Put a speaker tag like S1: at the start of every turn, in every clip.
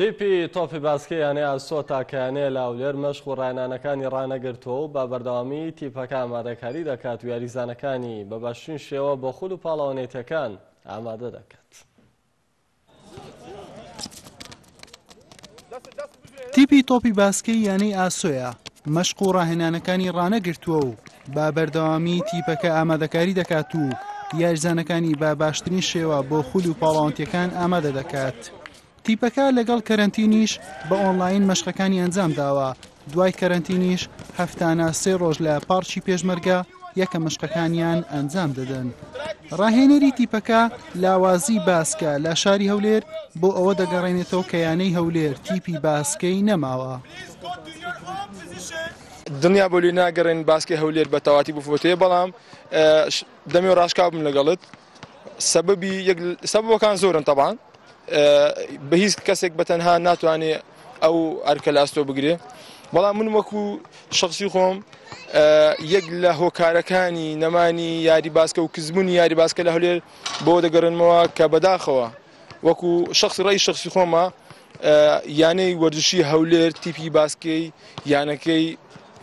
S1: تیپی تۆپی باسکەی یانەی ئاسۆتا کە یانەیە لە هەولێر مەشق و ڕاهێنانەکانی ڕانەگرتووە و بە بەردەوامی تیپەکە ئامادەکاری دەکات و یاریزانەکانی بە باشترین شێوە بۆ خول و پاڵەوە نێتەکان ئامادە دەکات. تیپی
S2: تۆپی باسکەی یانەی ئاسۆیە مەشق و ڕاهێنانەکانی ڕانەگرتووە و بە بەردەوامی تیپەکە ئامادەکاری دەکات و یاریزانەکانی بە باشترین شێوە بۆ خول و پاڵاوتەکان ئامادە دەکات. تیپەکە لەگەڵ کەرەنتینیش بە ئۆنلاین مەشقەکانی ئەنجام داوە دوای کەرەنتینیش هەفتانە سێ ڕۆژ لە پارچی پێشمەرگە یەکە مەشقەکانیان ئەنجام دەدەن. ڕاهێنەری تیپەکە لاوازی باسکە لە شاری هەولێر بۆ ئەوە دەگەڕێنێتەوە کە یانەی هەولێر تیپی باسکەی نەماوە.
S3: دڵنیا بە لوی ناگەڕێن باسکەی هەولێر بە تەواتی بفۆتێ بەڵام دەمێ و ڕاشکاوبم لەگەڵت سەبەبی سەبەکان زۆرن تەبان بە هیچ کەسێک بە تەنها ناتوانێ ئەو ئەرکە لە ئەستۆ بگرێ بەڵام من وەکو شخصی خۆم یەک لە هۆکارەکانی نەمانی یاری باسکە و کزبوونی یاری باسکە لە هەولێر بۆ دەگەڕێنمەوە کە بەداخەوە وەکو شەخسی ڕای شەخسی خۆمە یانەی وەرزشی هەولێر تیپی باسکەی یانەکەی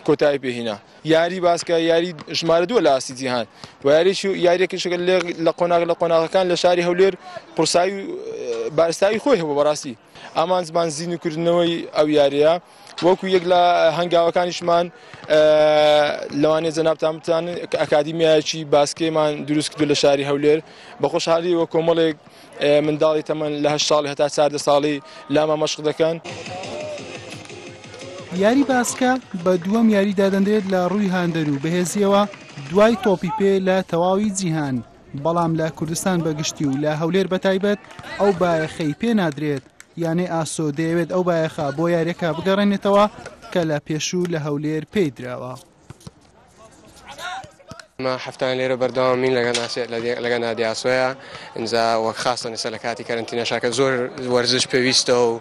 S3: کۆتایی پێهینا یاری باسکە یاری ژمارە دووە لە ئاستی جیهان و یاریی یاریەکەشەکە لە قۆناغ لە قۆناغەکان لە شاری هەولێر قورسایی بارستایی خۆی هەبوو بەڕاستی ئامانجمان زیینکردنەوەی ئەو یاریە وەکو یەک لە هەنگاوەکانیشمان لەوانێ جەنابتان بتان کە ئەکادیمیایەکی باسکێمان دروست کردو لە شاری هەولێر بە خۆشحالی وە کۆمەڵێک منداڵی تەمەن لە هە ساڵ هەتا چاردە ساڵی لاما مەشق دەکەن.
S2: یاری باسکە بە دووەم یاری دادەنرێت لە ڕووی هاندەر و بەهێزییەوە دوای تۆپی پێ لە تەواوی جیهان. بەڵام لە کوردستان بە گشتی و لە هەولێر بە تایبەت ئەو بایەخەی پێ نادرێت یانەی ئاسۆ دەیەوێت ئەو بایەخە بۆ یاریەکە بگەڕێنێتەوە کە لە پێشوو لە هەولێر پێی درراوە.
S4: ما هەفتان لێرە بەردەوامین لەگە ناسێ لەگە نادیاسۆە ئینجا وەک خاستە نسە لە کاتی کەرنتینەشاکە زۆر وەرزش پێویستە و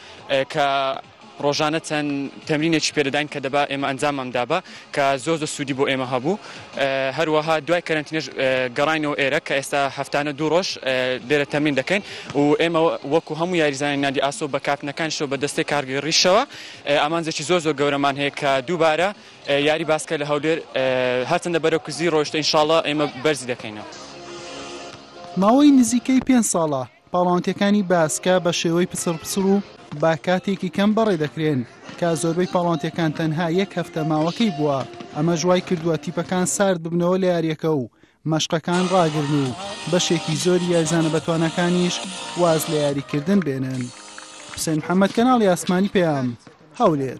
S5: کە ڕۆژانە چەند تەمرینێکی پێدەداین کە دەبا ئێمە ئەنجاممان دابا کە زۆر زۆر سوودی بۆ ئێمە هەبوو هەروەها دوای کەرەنتینەش گەڕاینەوە ئێرە کە ئێستا هەفتانە دوو ڕۆژ لێرە تەمرین دەکەین و ئێمە وەکو هەموو یاریزانانی نادی ئاسۆ بە کاپتنەکانیشەوە بە دەستەی کارگەی ڕیشەوە ئامانجێکی زۆر زۆر گەورەمان هەیە کە دووبارە یاری باسکە لە هەولێر هەرچەندە بەرەو کوزی ڕۆیشتە ئینشاڵڵا ئێمە بەرزی دەکەینەوە.
S2: ماوەی نزیکەی پێنج ساڵە پاڵاوتنەکانی باسکە بە شێوەی پچڕ پچڕ و بە کاتێکی کەم بەڕێ دەکرێن، کە زۆربەی پاڵاوتنەکان تەنها یەک هەفتە ماوەکەی بووە، ئەمەش وای کردووە تیپەکان سارد ببنەوە لە یارییەکە و مەشقەکان ڕاگرن و بەشێکی زۆری یاریزانە بەتواناکانیش واز لە یاریکردن بێنن. حوسێن محەممەد، کەناڵی ئاسمانی پەیام، هەولێر.